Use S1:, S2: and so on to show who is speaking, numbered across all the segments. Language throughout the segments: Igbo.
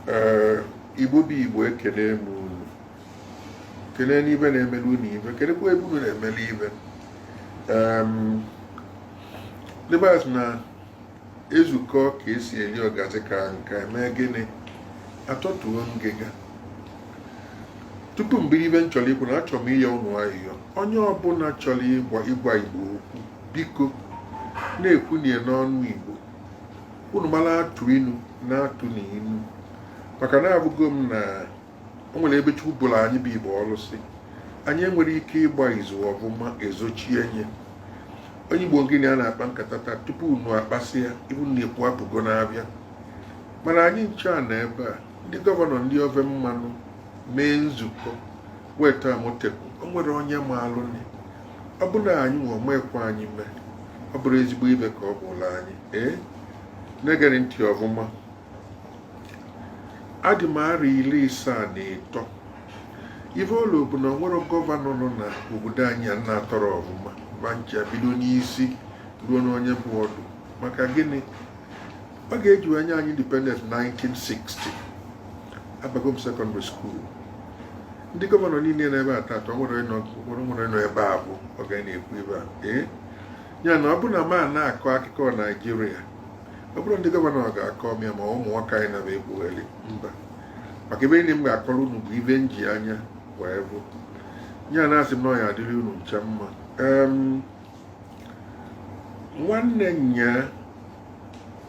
S1: ee igbo bụ igbo ekenee m unu kenee n'ibe na-emele unu ive kenekwa ebe unu na-emele ive ndị be anyị sị na ezukọ ka esi eli ọgazi ka nke eme gịnị atọtuo ngịga tupu m bido ive m chọrọ ikwu na achọrọ m ịyọ unu ayịyọ onye ọbụla chọrọ ịgwa igbo okwu biko na-ekwu nya n'ọnụ igbo unu mara atụ inu na-atụnụ inu maka na avụgo m na o nwere ebe chukwu bụrụ anyị bụ igbo ọnụ sị anyị enwere ike ịgba izu ọvụma ezochie nye onye igbo gịnị a na-akpa nkata taata tupu unu akpasị ya ive unu na-ekwu apụgo n'avịa mana anyị ncha nọ ebe a ndị gọvanọ ndị ofe mmanụ mee nzukọ weta amotekun o nwere onye maalụ ọ bụrụ na anyị nwa mekwa anyị mee ọ bụrụ ezigbo ive ka ọ bụla anyị ee na-egere ntị ọfụma adị m arọ iri isaa na ịtọ ife ụlọ bụ na o nwere gọvanọ nọ na obodo anyị a m na-atọrọ ọfụma va ncha bido n'isi ruo n'onye bụ ọdụ maka gịnị oge e ji wee nye anyị independence 1960 abago m sekọndịrị skuul ndị gọvanọ niile nọ ebe a taata o nwere nọ nwere nwere nọ ebe a bụ oge a na-ekwu ive a ee ya na ọ bụ na m na-akọ akụkọ naijiria ọ bụrọ ndị gọvanọ ga-akọ m ya ma ụmụ nwoke anyị na-ekwugheli mba maka ive niile m ga-akọrọ unu bụ ive m ji anya wee vụ ya na-asị m na ọ ya adịrị unu ncha mma em nwanne nya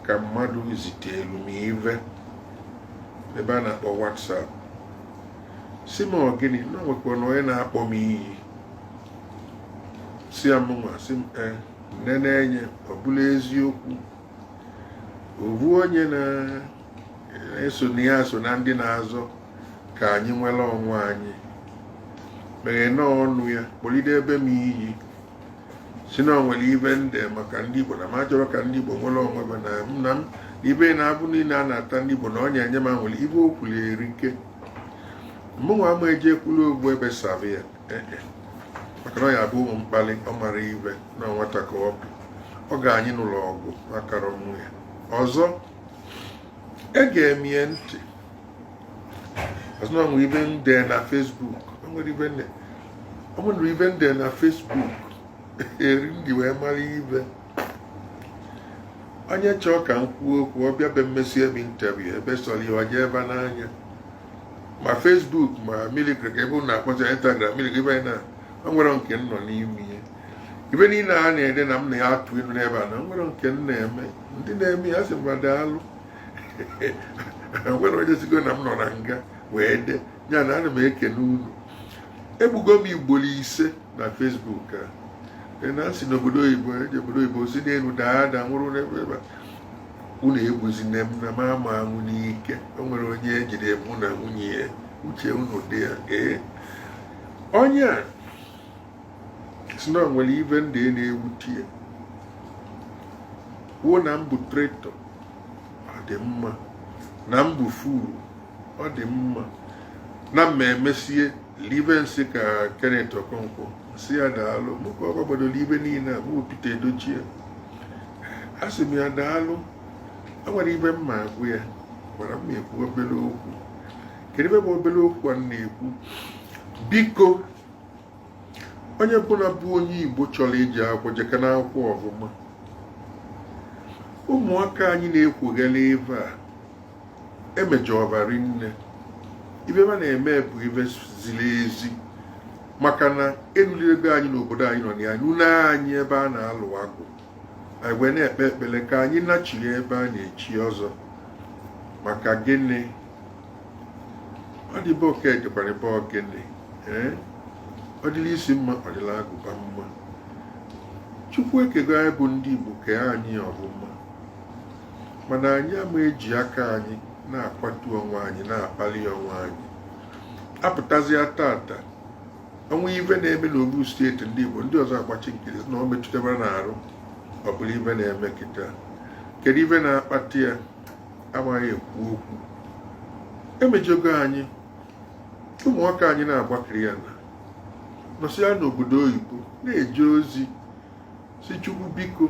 S1: ka mmadụ zitelu m ive n'ebe a na-akpọ WhatsApp sị m ọ gịnị na o nwekwa na onye na-akpọ m iyi sị a mụnwa sị m e nenee nya ọ bụlụ eziokwu ovu onye na-eso na ya so na ndị na-azọ ka anyị nwere onwe anyị meghe na ọnụ ya kpọlidebe m iyi sị na o nwere ive m de maka ndị Igbo na m achọrọ ka ndị Igbo nwere onwe va na m na m ive na avụvụ niile a na-ata ndị Igbo na onye enye m nwere ive o kwulu erika mụnwa ama eje kwuru okwu ebe sava ya eh, eh. maka na ọ ya-abụ m mkpali ọ marọ ive na nwata ka ọ bụ ọ ga anyị n'ụlọ ọgwụ akara ọnwụ ya ọzọ ege m ntị a sị na o nwere ive m de na Facebook nwere ive m de o nwere ive m de na Facebook eri m ji wee mara ive onye chọọ ka m kwuo okwu ọ bịa be m mesibe interview ive sọrọ ya ọ jụọ ebe n'anya ma Facebook ma milikrik ebe ụnụ akpọcha Instagram milikrik ebe na o nwere nke m nọ n'ime ihe ive niile a na-ede na m na ya atụ ilu n'ebe a na nwere nke m na-eme ndị na-eme ya sị mba daalụ nwere onye sigo na m nọ na nga wee de ya na ana m ekene unu egbugo m ugboro ise na Facebook a e na asị n'obodo oyibo ejee obodo oyibo si n'elu daa ada nwụrụ n'ebe ebe unu egbuzina m na m ama anwụ n'ike o nwere onye ejide mụ na nwunye ya uche unu dị ya ee onye a sị na e nwere ife ndị e na-ewute ya kwuo na m bụ traitor ọ dị mma na m bụ fool ọ dị mma na m emezie ife nsị ka Kenneth Okonkwo m sị ya daalụ mụka ọ gbadoro ife niile a bụ Pete Edochie a sị m ya daalụ enwere ife m ma agwa ya gwara m ekwu obere okwu kedu ife bụ obere okwu a na-ekwu biko onye bụla bụ onye igbo chọrọ ije akwụkwọ jekana akwụkwọ ọfụma ụmụaka anyị na-ekwugharị ife a emejọba rinne ife ma na-eme bụ ife ziri ezi maka na enurugo anyị n'obodo anyị nọ na ya nunye anyị ebe a na-alụ agwụ anyị wee na-ekpe ekpere ka anyị nachiri ebe a na-echi ọzọ maka gịnị ọ dị be oke dịkwara ebe ọ gịnị ee ọ dịla isi mma ọ dịla agụba mma chukwu ekego anyị bụ ndị igbo kee anyị ọfụma mana anyị ama eji aka anyị na-akwatu onwe anyị na-akpali onwe anyị apụtazịa tata o nwee ife na-eme n'ofu steeti ndị igbo ndị ọzọ agbachi nkịtị na ọ metụtaberọ ha n'arụ ọ bụrụ ife na-eme kịta kedu ife na-akpata ya amaghị ekwu okwu emejọgo anyị ụmụaka anyị na-agbakiri ya na nọsịa n'obodo oyibo na-eje ozi sị chukwu biko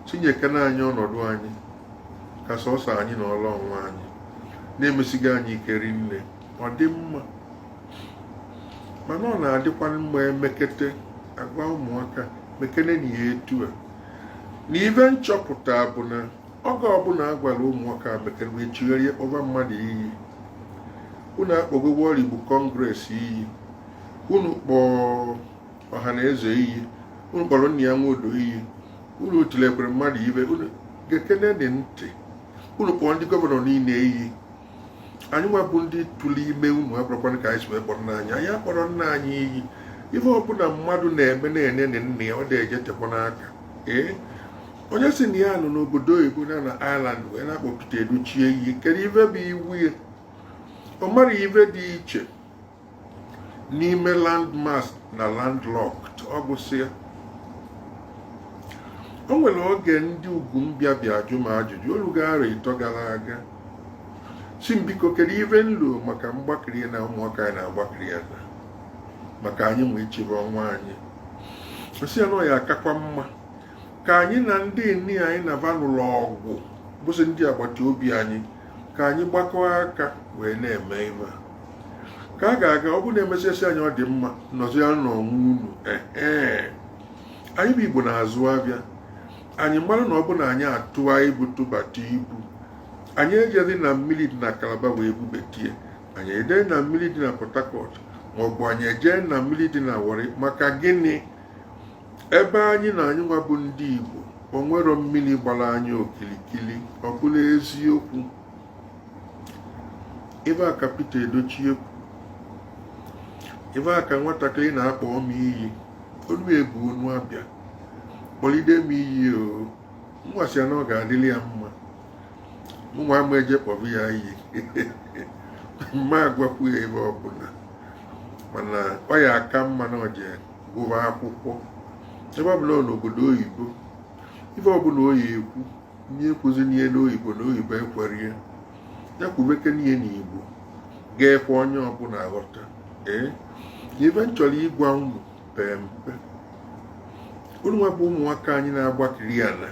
S1: tinyekana anyị ọnọdụ anyị ka sọsọ anyị na ọla ọnwa anyị na-emesiga anyị ike rinne ọ dị mma mana ọ na-adịkwa mma emekete agwa ụmụaka mekene na ya etu a na ife m chọpụta bụ na oge ọbụla a gwara ụmụaka be careful e chigharịa kpọba mmadụ iyi unu akpọgo World Igbo Congress iyi unu kpọọ Ọhanaeze iyi unu kpọrọ Nnia Nwodo iyi unu tilekwere mmadụ ife unu gekene nị ntị unu kpọọ ndị gọvanọ niile iyi anyị nwa bụ ndị tụrụ ime unu akpọrọkwana ka anyị si wee kpọrọ nna anyị anyị akpọrọ nna anyị iyi ife ọbụla mmadụ na-eme nne na nna ya ọ na-eje tekwa n'aka ee onye sị na ya nọ n'obodo oyibo na na Ireland wee na-akpọ Pete Edochie iyi kedu ife bụ iwe ya ọ mara ife dị iche n'ime landmass na landlocked ọ gwụsịa o nwere oge ndị ugwu mbịa bịa jụọ m ajụjụ orugo arọ ịtọ gara aga sị m biko kedu ife m lolu maka mgbakiri na ụmụaka anyị na-agbakiri ana maka anyị nwa ịchịbe onwe anyị sị ya na ọ ya akakwa mma ka anyị na ndị niine anyị na va nụlụ ọgụ bụsị ndị agbata obi anyị ka anyị gbakọọ aka wee na-eme ife ka a ga-aga ọ bụrụ na emesịa a sị anyị ọ dị mma nọzia n'onwe unu ee anyị bụ igbo na-azụ afịa anyị mara na ọ bụ na anyị atụa ibu tụbata ibu anyị ejee na mmiri dị na calabar wee bubetie anyị ejee na mmiri dị na port harcourt maọbụ anyị ejee na mmiri dị na warri maka gịnị ebe anyị nọ anyị nwa bụ ndị igbo o nwerọ mmiri gbara anyị okirikiri ọ bụla eziokwu ebe a ka Pete Edochie kwụ ebe a ka nwatakịrị na-akpọ m iyi ọ na-ebu ọnụ abịa kpọlide m iyi ọ nwasịa na ọ ga-adịrị ya mma mụnwa ama eje kpọba ya iyi m ma agwakwu ya ife ọbụla mana ọ ya aka mma na o je gụba akwụkwọ ebe ọbụla ọ nọ n'obodo oyibo ife ọbụla ọ ya ekwu nya ekwuzina ya n'oyibo na oyibo ekwerọ ya ya kwubekene ya n'igbo ga-ekwe onye ọbụla ghọta ee ife m chọrọ ịgwa unu pee mpe unu nwa bụ ụmụaka anyị na-agbakiri ana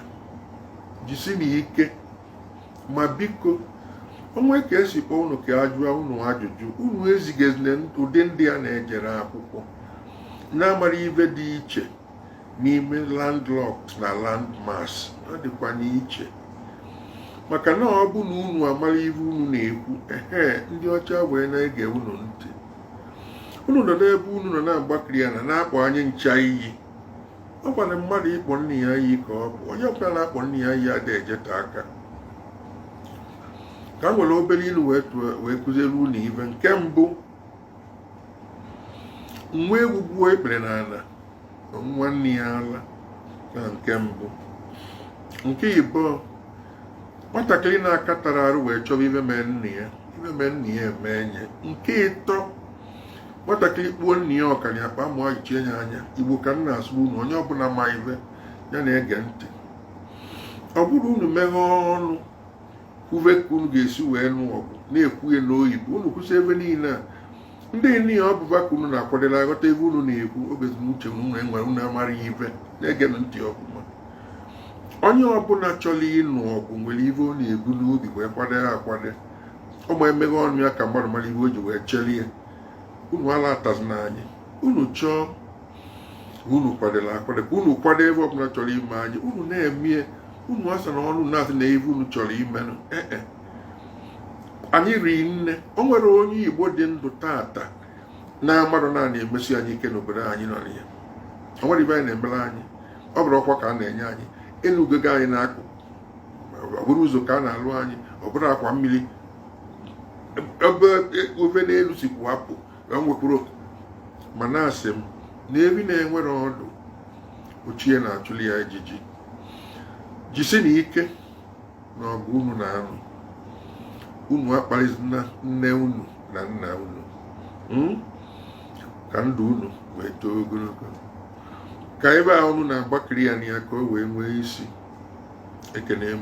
S1: jisinụ ike ma biko o nwee ka e si kpọọ unu ka a jụọ unu ajụjụ unu ezigezina ụdị ndị a na-ejerọ akwụkwọ na-amarọ ife dị iche n'ime landlocked na landmass ọ dịkwa n'iche maka na ọ bụ na unu amara ife unu na-ekwu ehe ndị ọcha wee na-ege unu ntị unu nọ n'ebe unu nọ na-agbakiri ana na-akpọ anyị ncha iyi ọ bụrị mmadụ ịkpọ nna ya iyi ka ọ bụ onye ọbụla na-akpọ nna ya iyi adịghị ejeta aka ka m were obere ilu wee kụziere unu ife nke mbụ nwa ewu gbuo ikpere n'ala ọ ṅụa nne ya ala na nke mbụ nke ịbụọ nwatakịrị na-akatarọ arụ wee chọba ife mee nna ya ife mee nna ya emee ya nke ịtọ nwatakịrị kpuo nna ya ọkara akpa amụ ayọchie ya anya igbo ka m na-asụ unu onye ọbụla ma ife ya na-ege ntị ọ bụrụ unu meghee ọnụ kwube ka unu ga-esi wee nụ ọgụ na-ekwughị n'oyibo unu kwụsị ive niile a ndị niile ọ bụba ka unu na-akwadela aghọta ive unu na-ekwu oge uche unu enwere unu amara ya ive na-egenụ ntị ọfụma onye ọbụla chọrọ ịnụ ọgụ nwere ive ọ na-ebu n'obi wee kwado ya akwado ọ ma emeghe ọnụ ya ka mmadụ mara ive o ji wee chere ya unu alatazina anyị unu chọọ unu kwadoro akwado ka unu kwado ive ọbụla chọrọ ime anyị unu na-emie unu asana ọnụ na-asị na ive unu chọrọ ime ee e. anyị ri nne o nwere onye igbo dị ndụ tata na-amadụ na a na-emesi anyị ike n'obodo anyị nọ na ya o nwere ive anyị na-emere anyị ọ bụrụ ọkwa ka a na-enye anyị elu ugego anyị na-akwụ ọ bụrụ ụzọ ka a na-alụ anyị ọ bụrụ akwa mmiri ebe ofe n'elu si kwụ apụ ka m wee kwuru okwu ma na-asị m na evi na-enwerọ ọdụ ọ chi e na-achụli ya ijiji jisinụ ike na ọgụ unu na-anụ unu akpalizina nne unu na nna unu hmm? ka ndụ unu wee too ogologo ka ive a unu na-agbakiri ya na ya ka o wee nwee isi ekene m